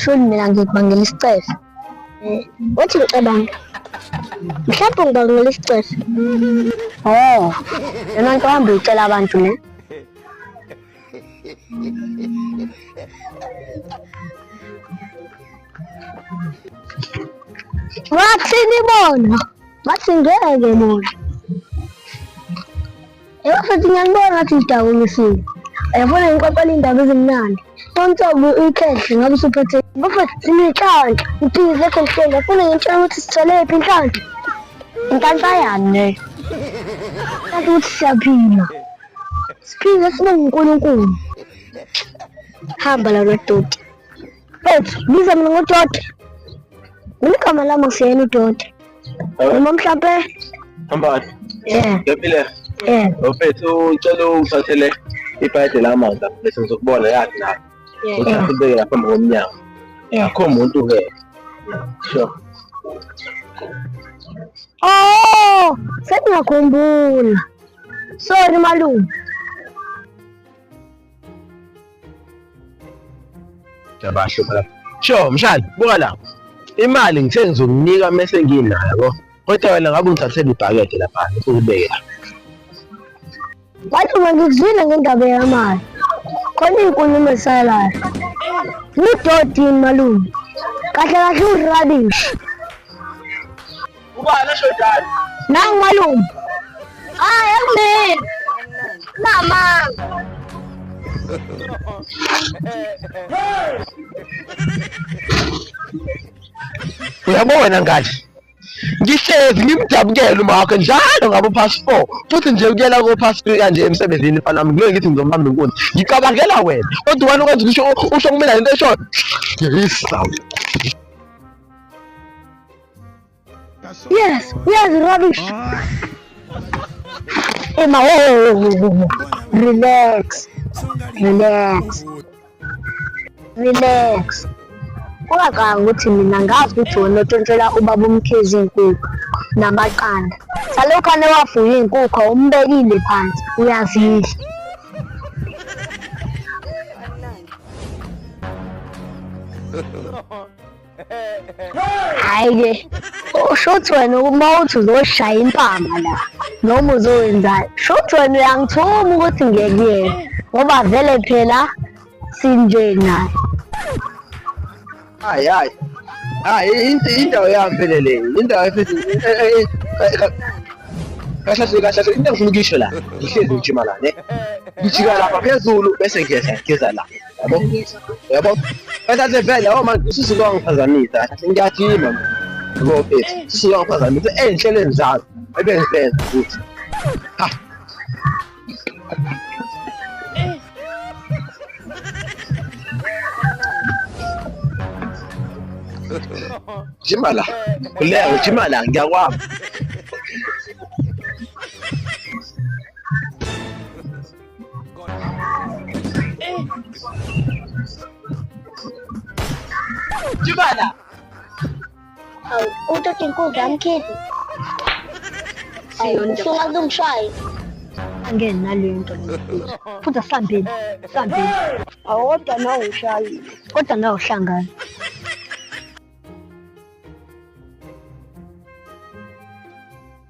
Sholi mina ngikubangela isicelo. Wathi ngicabanga. Mhlawumbe ngibangela isicelo. Oh, yona nto hamba uyitshela abantu ne. Wathini bona? Wathi ngeke bona. Yebo futhi ngiyanibona ngathi ngidakulisile. Yabona ngixoxela indaba ezimnandi. Konke uyikhehle ngabe usuphethe. Bafethu sinenhlanhla. Ngiphize lokho ngihleli. Yafuna ngitshela ukuthi sithole iphi inhlanhla. Inhlanhla yani leyo. Kanti ukuthi siyaphila. Siphile sibonga uNkulunkulu. Hamba la lodoti. Mfethu, biza mina ngoDoti. Mina igama lami ngiseyena uDoti. Noma mhlampe Hambani. yeah, Ngiphile. yeah, Mfethu ngicela ungithathele ibhayede lamanzi lapho bese ngizokubona yazi la. yeah, Uthathe ubeke lapha phambi komnyango. Yeah. Akho muntu ke. Sure. Oh, sengiyakhumbula. Sorry malume. Yabasho phela. Sho mshali buka la. Imali ngithe ngizokunika mese nginayo yabo. Kodwa wena ngabe ungithathele ibhakede lapha ngikubeke. Wathi ngikuzwile ngendaba yamali. Khona inkulumo esalayo. Ngidodini malume. Kahle kahle urabish. Ubani ashodayo? Nangu malume. Hayi akumina. Mama. Uyabona ngathi ngihlezi ngimdabukele uma wakhe njalo ngabo past four futhi nje ukuyela ko past three kanje emsebenzini mfana wami ngeke ngithi ngizomhamba inkunzi ngicabangela wena kodwa wena ukwenza usho usho kumina lento eshona ngiyisa Yes, yes, rubbish. Emma, oh, relax, relax, relax. Ungacanga ukuthi mina ngazi ukuthi wena otshontshela ubaba umkhizi inkukhu namaqanda. Salokhu anewafuye inkukhu umbekile phansi uyazidla. hayi ke usho ukuthi wena uma uthi uzoshaya impama la noma uzowenzayo sho ukuthi wena uyangithuma ukuthi ngekuyena ngoba vele phela sinje naye hayi hayi hayi indawo yami phela le indawo efithi kahle kahle kahle into engifuna ukuyisho la ngihlezi ngijima la ne ngijika lapha phezulu bese ngiyeza ngiyeza la yabo yabo bathathe vele yabo manje usisi lwangiphazamisa ngiyajima yabo mfethu usisi lwangiphazamisa ey'nhlelweni zami ebengizenza futhi ha jima la kuleo jima la ngiyakwama Jubana. Aw, uto tinkundla mkhithi. Awu, ufuna kungishaya. Angeke naleyo nto leyo. Futhi sambeni, sambeni. Awu, kodwa nawe ushayile. Kodwa nawe uhlangana.